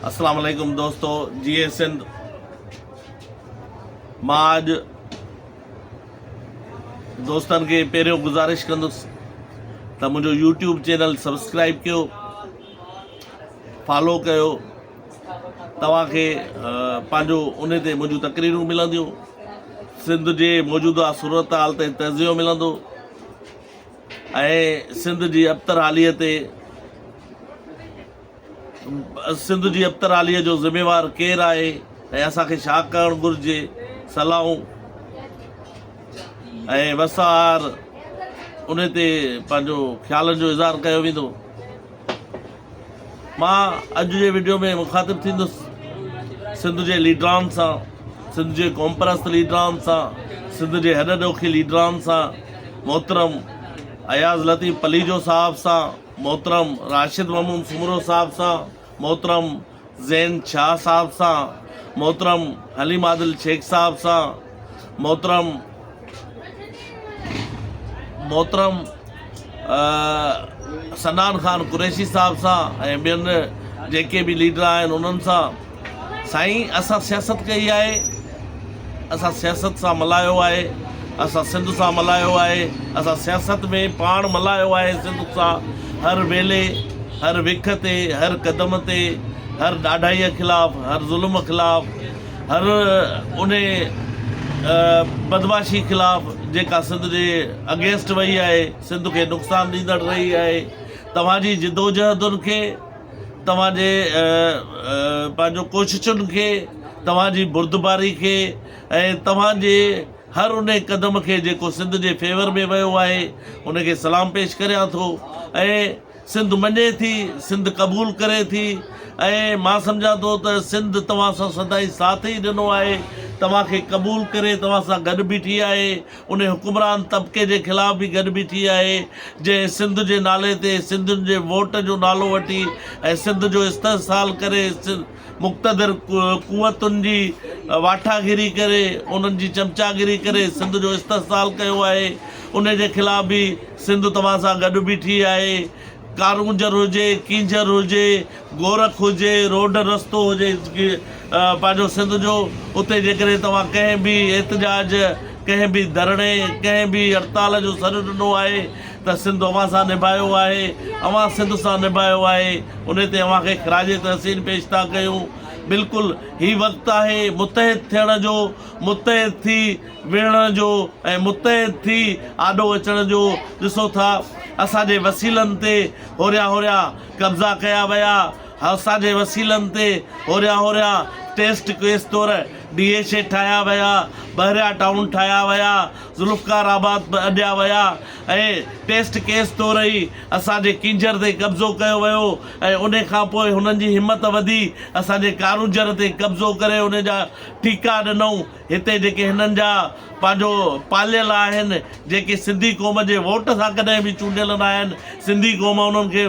اسلام عليڪم دوستو جي اي سنڌ مان اڄ دوستن کي پهريون گزارش ڪندس ته منهنجو يوٽيوب چينل سبسڪرائب ڪيو فالو ڪيو توهان کي پنهنجو ان تي منهنجون تقريرون ملنديون سنڌ جي موجوده صورت حال تي تجزيو ملندو ۽ سنڌ جي ابتر حاليت تي سنڌ جي ابتراليء جو ذميوار ڪير آهي ۽ اسان کي ڇا ڪرڻ گهرجي؟ صلاحون ۽ وسهار ان تي پنهنجو خيالن جو اظهار ڪيو ويندو. مان اڄ جي وڊيو ۾ مخاطب ٿيندس سنڌ جي ليڊران سان، سنڌ جي قومپرست ليڊران سان، سنڌ جي هڏ ڏوکي ليڊران سان، محترم اياز لطيف پليجو صاحب سان، محترم راشد محمود سومرو صاحب سان، محترم زين شاهه صاحب سان، محترم حليم عادل شيخ صاحب سان، محترم محترم صنعان خان قريشي صاحب سان ۽ ٻين جيڪي به ليڊر آهن انهن سان سائين اسان سياست ڪئي آهي اسان سياست سان ملايو آهي اسان سنڌ سان ملايو آهي اسان سياست ۾ پاڻ ملايو آهي سنڌ سان هر ويلي هر وک تي هر قدم تي هر ڏاڍائيء خلاف هر ظلم خلاف هر ان بدمعاشي خلاف جيڪا سنڌ جي اگينسٽ وئي آهي سنڌ کي نقصان ڏيندڙ رهي آهي توهان جي جدوجهدن کي توهان جي پنهنجو ڪوششن کي توهان جي بردباري کي ۽ توهان جي هر ان قدم کي جيڪو سنڌ جي فيور ۾ ويو آهي ان کي سلام پيش ڪريان ٿو ۽ سنڌ مڃي ٿي سنڌ قبول ڪري ٿي ۽ مان سمجهان ٿو ته سنڌ توهان سان سدائين ساٿ ئي ڏنو آهي توهان کي قبول ڪري توهان سان گڏ بيٺي آهي انهي حڪمران طبقي جي خلاف به گڏ بيٺي آهي، جنهن سنڌ جي نالي تي سنڌين جي ووٽ جو نالو وٺي ۽ سنڌ جو استحصال ڪري مقتدر قوتن جي واٺاگيري ڪري انهن جي چمچاگيري ڪري سنڌ جو استحصال ڪيو آهي، انهي جي خلاف به سنڌ توهان سان گڏ بيٺي آهي. ڪارونجهر هجي، ڪينجهر هجي، گورک هجي، روڊ رستو هجي پنهنجو سنڌ جو اتي جيڪڏهن توهان ڪنهن به احتجاج، ڪنهن به ڌرڻي، ڪنهن به هڙتال جو سڏ ڏنو آهي ته سنڌ اوهان سان نڀايو آهي، اوهان سنڌ سان نڀايو آهي، ان تي اوهان کي خراج تحسين پيش ٿا ڪيون. بلڪل هي وقت آهي متحد ٿيڻ جو. متحد ٿي ويهڻ جو ۽ متحد ٿي آڏو اچڻ جو ڏسو ٿا اسان جي وسيلن تي هوريان هوريان قبضا ڪيا ويا اسان جي وسيلن تي هوريان هوريان ٽيسٽ ڪيس طور ڊي ايڇ اي ٺاهيا ويا بحريا ٽائون ٺاهيا ويا ذوالفقار آباد به اڏيا ويا ۽ ٽيسٽ ڪيس طور ئي اسان جي ڪينجهر تي قبضو ڪيو ويو ۽ ان کان پوء هنن جي همت وڌي اسان جي ڪارونجهر تي قبضو ڪري ان جا ٽيڪا ڏنئون هتي جيڪي هنن جا پنهنجو پاليل آهن جيڪي سنڌي قوم جي ووٽ سان ڪڏهن به چونڊيل نه آهن سنڌي قوم انهن کي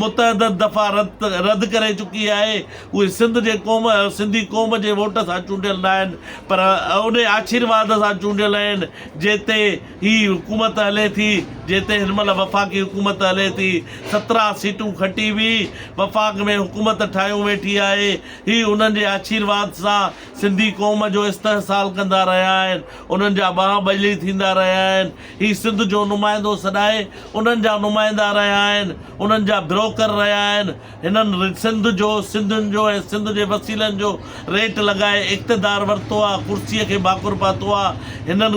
متعدد دفعا رد رد ڪري چڪي آهي اهي سنڌ جي قوم سنڌي قوم جي ووٽ سان چونڊيل نه آهن پر انهي آشيرواد سان چونڊيل آهن جنهن تي هي حڪومت هلي ٿي جنهن تي هن مهل وفاقي حڪومت هلي ٿي سترهن سيٽون کٽي به وفاق ۾ حڪومت ٺاهيون ويٺي آهي هي انهن جي آشيرواد سان سنڌي قوم جو استحصال ڪندا رهيا آهن، انهن جا ٻانهن ٻجهي ٿيندا رهيا آهن، هي سنڌ جو نمائندو سڏائي انهن جا نمائندا رهيا آهن، انهن جا بروڪر رهيا آهن، هنن سنڌ جو، سنڌين جو ۽ سنڌ جي وسيلن جو ريٽ لڳائي اقتدار ورتو آ، ڪرسي کي ڀاڪر پاتو آ، هنن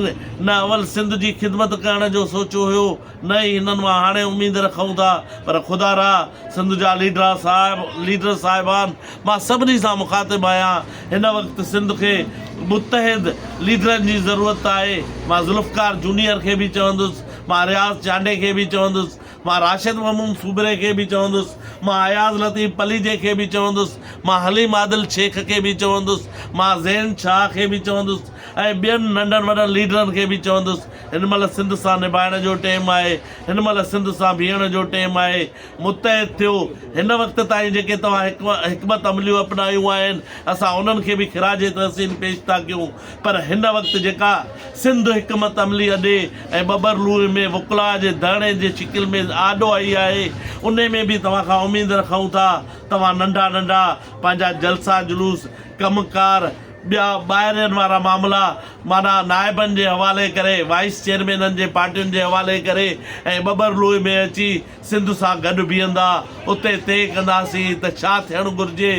نه اول سنڌ جي خدمت ڪرڻ جو سوچيو هيو، نه ئي هنن مان هاڻي اميد رکون ٿا پر خدا را سنڌ جا ليڊرا صاحب ليڊر صاحبان مان سڀني سان مخاطب آهيان هن وقت سنڌ کي متحد ليڊرن جي ضرورت آهي مان ذوالفقار جونيئر کي به چوندس مان رياض چانڊئي کي به چوندس مان راشد محمود سومري کي به چوندس مان اياز لطيف پليجي کي به چوندس مان حليم عادل شيخ کي به چوندس مان زين شاهه کي به چوندس ۽ ٻين ننڍن وڏن ليڊرن کي به چوندس هن مهل سنڌ سان نڀائڻ جو ٽيم آهي، هن مهل سنڌ سان بيهڻ جو ٽيم آهي، متحد ٿيو، هن وقت تائين جيڪي توهان حڪمت عمليون اپنايون آهن اسان انهن کي به خراج تحسين پيش ٿا ڪيون پر هن وقت جيڪا سنڌ حڪمت عملي اڏي ۽ ٻٻر لوئي ۾ وڪلاء جي ڌرڻي جي شڪل ۾ آڏو آئي آهي انهي ۾ به توهان کان اميد رکون ٿا توهان ننڍا ننڍا پنهنجا جلسا جلوس ڪم ڪار ٻيا ٻاهرين وارا معاملا معنيٰ نائبن جي حوالي ڪري، وائيس چيئرمينن جي پارٽين جي حوالي ڪري ۽ ٻٻر لوئي ۾ اچي سنڌ سان گڏ بيهندا، اتي طئي ڪنداسين ته ڇا ٿيڻ گهرجي،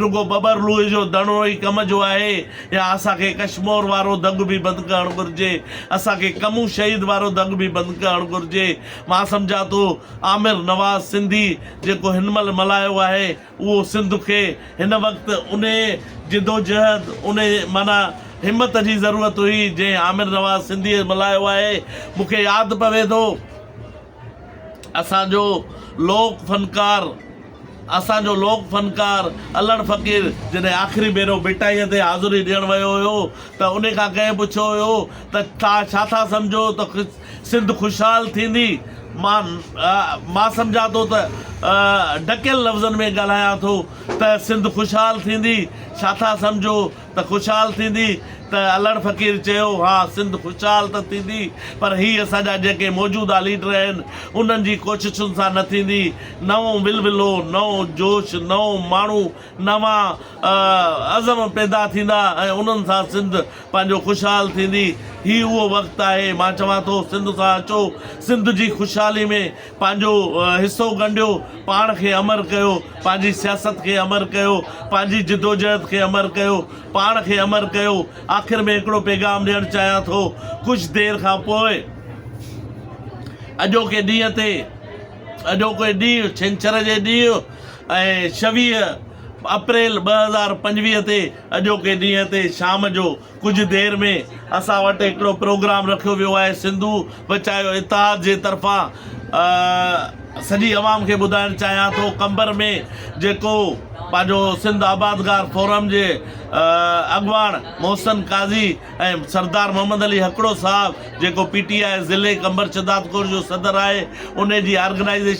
رڳو ٻٻر لوئي جو ڌڻو ئي ڪم جو آهي يا اسان کي ڪشمور وارو دڳ به بند ڪرڻ گهرجي، اسان کي ڪمون شهيد وارو دڳ به بند ڪرڻ گهرجي، مان سمجهان ٿو عامر نواز سنڌي جيڪو هن مهل ملهايو آهي، اهو سنڌ کي هن وقت انهيء جدوجهد، انهيء معنيٰ همت جي ضرورت هئي، جنهن عامر نواز سنڌيء ملهايو آهي. مون کي ياد پوي ٿو، اسان جو لوڪ فنڪار، اسان جو لوڪ فنڪار الهڙ فقير جڏهن آخري ڀيرو ڀٽائيء تي حاضري ڏيڻ ويو هيو ته انهيء کان ڪنهن پڇيو هيو ته توهان ڇا ٿا سمجهو ته سنڌ خوشحال ٿيندي. مان مان سمجهان ٿو ته ڍڪيل لفظن ۾ ڳالهايان ٿو ته سنڌ خوشحال ٿيندي، ڇا ٿا سمجهو ته خوشحال ٿيندي؟ ته الهڙ فقير چيو، ها سنڌ خوشحال ته ٿيندي پر هي اسان جا جيڪي موجوده ليڊر آهن انهن جي ڪوششن سان نه ٿيندي، نئون ولولو، نئون جوش، نئون ماڻهو، نوان عزم پيدا ٿيندا ۽ انهن سان سنڌ پنهنجو خوشحال ٿيندي. هي اهو وقت آهي، مان چوان ٿو سنڌ سان اچو، سنڌ جي خوشحالي ۾ پنهنجو حصو ڳنڍيو، پاڻ کي امر ڪيو، پنهنجي سياست کي امر ڪيو، پنهنجي جدوجهد کي امر ڪيو، پاڻ کي امر ڪيو. آخر ۾ هڪڙو پيغام ڏيڻ چاهيان ٿو، ڪجهه دير کان پوء اڄوڪي ڏينهن تي، اڄوڪي ڏينهن ڇنڇر جي ڏينهن ۽ ڇويهه اپريل ٻه هزار پنجويهه تي اڄوڪي ڏينهن تي شام جو ڪجهه دير ۾ اسان وٽ هڪڙو پروگرام رکيو ويو آهي سنڌو بچايو اتحاد جي طرفان سڄي عوام کي ٻڌائڻ چاهيان ٿو قمبر ۾ جيڪو پنهنجو سنڌ آبادگار فورم جي اڳواڻ محسن قاضي ۽ سردار محمد علي هڪڙو صاحب جيڪو پي ٽي آء ضلعي قمبر شهدادڪور جو صدر آهي انهي جي آرگنائيزيشن